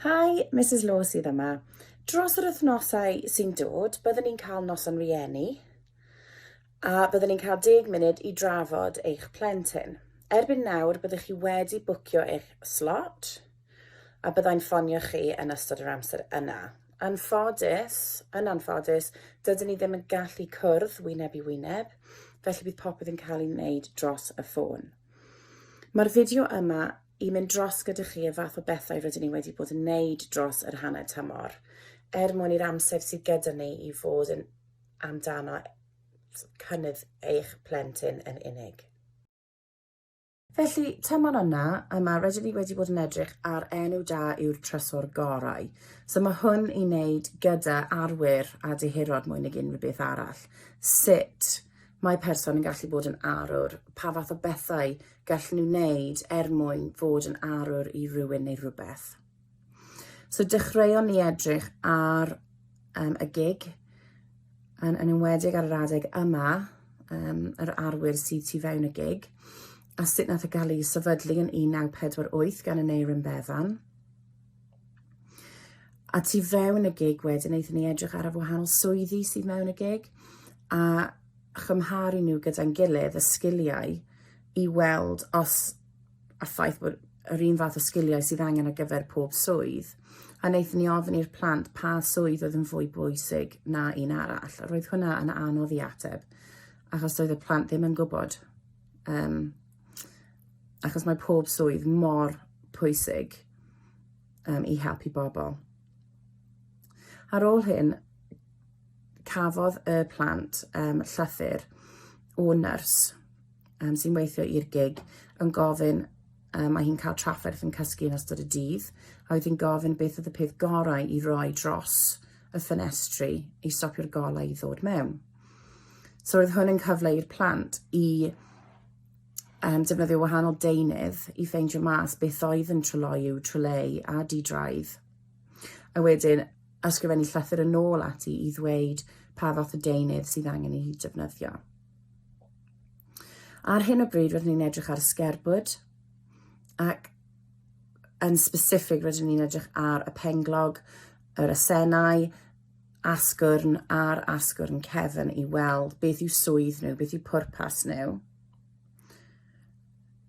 Hi, Misus Law sydd yma. Dros yr wythnosau sy'n dod, byddwn ni'n cael noson rieni, a byddwn ni'n cael deg munud i drafod eich plentyn. Erbyn nawr, byddwch chi wedi bwcio eich slot, a byddai'n ffonio chi yn ystod yr amser yna. Yn ffodus, yn anffodus, dydyn ni ddim yn gallu cwrdd wyneb i wyneb, felly bydd popeth yn cael ei wneud dros y ffôn. Mae'r fideo yma i mynd dros gyda chi y fath o bethau rydyn ni wedi bod yn wneud dros yr hanner tymor, er mwyn i'r amser sydd gyda ni i fod yn amdano cynnydd eich plentyn yn unig. Felly, tymor yna, yma, rydyn ni wedi bod yn edrych ar enw da yw'r trysor gorau. So mae hwn i wneud gyda arwyr a dehirod mwy nag unrhyw beth arall. Sut Mae person yn gallu bod yn arwr. Pa fath o bethau gallen nhw wneud er mwyn fod yn arwr i rywun neu rhywbeth? So dechreuon ni edrych ar um, y gig, yn, yn enwedig ar yr adeg yma, um, yr arwyr sydd tu fewn y gig, a sut nath y e gael ei sefydlu yn 1948 gan y Neirin Bevan. A tu fewn y gig wedyn, wnaethon ni edrych ar y wahanol swyddi sydd mewn y gig, a chymharu nhw gyda'n gilydd, y sgiliau, i weld os a ffaith bod yr un fath o sgiliau sydd angen ar gyfer pob swydd. A wnaethon ni ofyn i'r plant pa swydd oedd yn fwy bwysig na un arall. Roedd hwnna yn anodd i ateb, achos doedd y plant ddim yn gwybod. Um, achos mae pob swydd mor pwysig. um, i helpu bobl. Ar ôl hyn, cafodd y plant um, llythyr o nyrs um, sy'n weithio i'r gig yn gofyn um, mae hi'n cael trafferth yn cysgu yn ystod y dydd, a oedd hi'n gofyn beth oedd y peth gorau i roi dros y ffenestri i stopio'r golau i ddod mewn. So oedd hwn yn cyfle i'r plant i um, defnyddio wahanol deunydd i ffeindio mas beth oedd yn tryloyw, tryleu a di-draidd. A wedyn ysgrifennu llythyr yn ôl ati i ddweud pa fath o deunydd sydd angen i hi defnyddio. Ar hyn o bryd rydyn ni'n edrych ar sgerbwd ac yn specific rydyn ni'n edrych ar y penglog, yr asenau, asgwrn ar asgwrn cefn i weld beth yw swydd nhw, beth yw pwrpas nhw.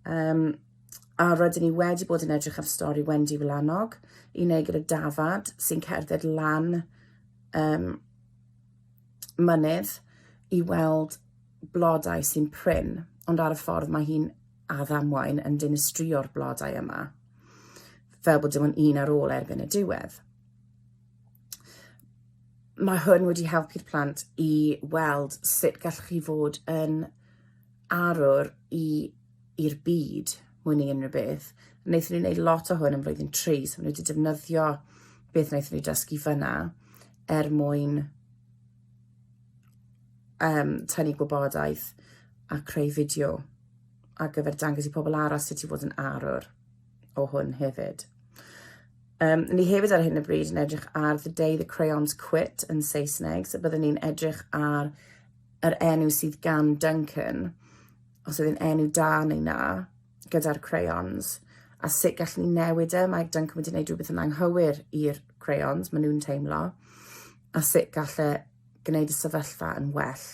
Um, a rydyn ni wedi bod yn edrych ar stori Wendy Wlanog i wneud gyda Dafad sy'n cerdded lan um, mynydd i weld blodau sy'n prin, ond ar y ffordd mae hi'n addamwain yn dinistrio'r blodau yma, fel bod dim ond un ar ôl erbyn y diwedd. mae hwn wedi helpu'r plant i weld sut gallwch chi fod yn arwr i i'r byd mwy neu unrhyw beth. Wnaethon ni wneud lot o hwn yn flwyddyn tri, so nhw wedi defnyddio beth wnaethon ni dysgu fyna er mwyn um, tynnu gwybodaeth a creu fideo ar gyfer dangos i pobl arall sut i fod yn arwr. o hwn hefyd. Um, ni hefyd ar hyn o bryd yn edrych ar The Day the Crayons Quit yn Saesneg, so byddwn ni'n edrych ar yr enw sydd gan Duncan, os ydy'n enw da neu na, gyda'r crayons, a sut gallwn ni newid e, mae Duncan wedi gwneud rhywbeth yn anghywir i'r crayons, maen nhw'n teimlo, a sut gallai e gwneud y sefyllfa yn well.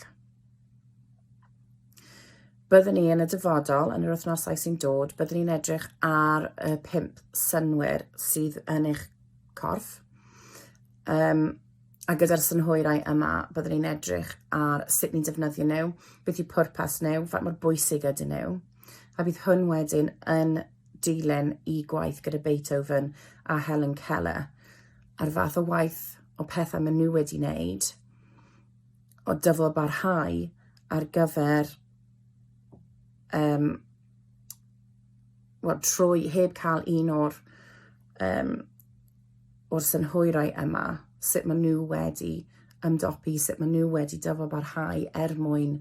Byddwn ni yn y dyfodol, yn yr wythnosau sy'n dod, byddwn ni'n edrych ar y pimp synwyr sydd yn eich corff. Um, a gyda'r synhwyrau yma, byddwn ni'n edrych ar sut ni'n defnyddio nhw, beth yw pwrpas nhw, faint mor bwysig ydyn nhw. A bydd hwn wedyn yn dilyn i gwaith gyda Beethoven a Helen Keller a'r fath o waith o pethau maen nhw wedi wneud o dyfalbarhau ar gyfer um, wel, trwy heb cael un o'r, um, o'r synhwyrau yma, sut maen nhw wedi ymdopi, sut maen nhw wedi dyfalbarhau er mwyn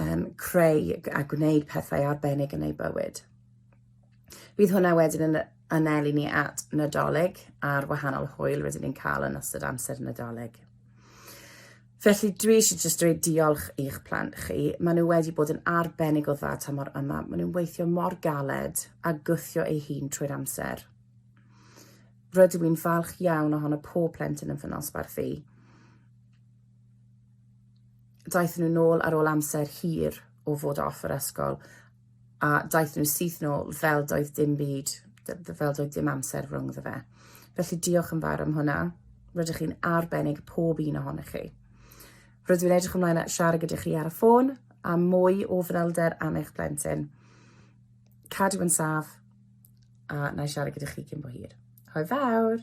um, creu a gwneud pethau arbennig yn eu bywyd. Bydd hwnna wedyn yn anelu ni at Nadolig a'r wahanol hwyl rydyn ni'n cael yn ystod amser Nadolig. Felly dwi eisiau jyst dweud diolch i'ch plant chi. Maen nhw wedi bod yn arbennig o dda ta mor yma. Maen nhw'n weithio mor galed a gwthio ei hun trwy'r amser. Rydw i'n falch iawn ohono pob plentyn yn fy nosbarth i. Daeth nhw'n ôl ar ôl amser hir o fod off yr ysgol a daeth nhw syth nôl fel doedd dim byd, fel doedd dim amser rhwng dda fe. Felly diolch yn fawr am hwnna. Rydych chi'n arbennig pob un ohonych chi. Rydw i'n edrych ymlaen at siarad gyda chi ar y ffôn a mwy o fanylder am eich plentyn. Cadw yn saf a na i siarad gyda chi cyn bo hir. Hwyl fawr!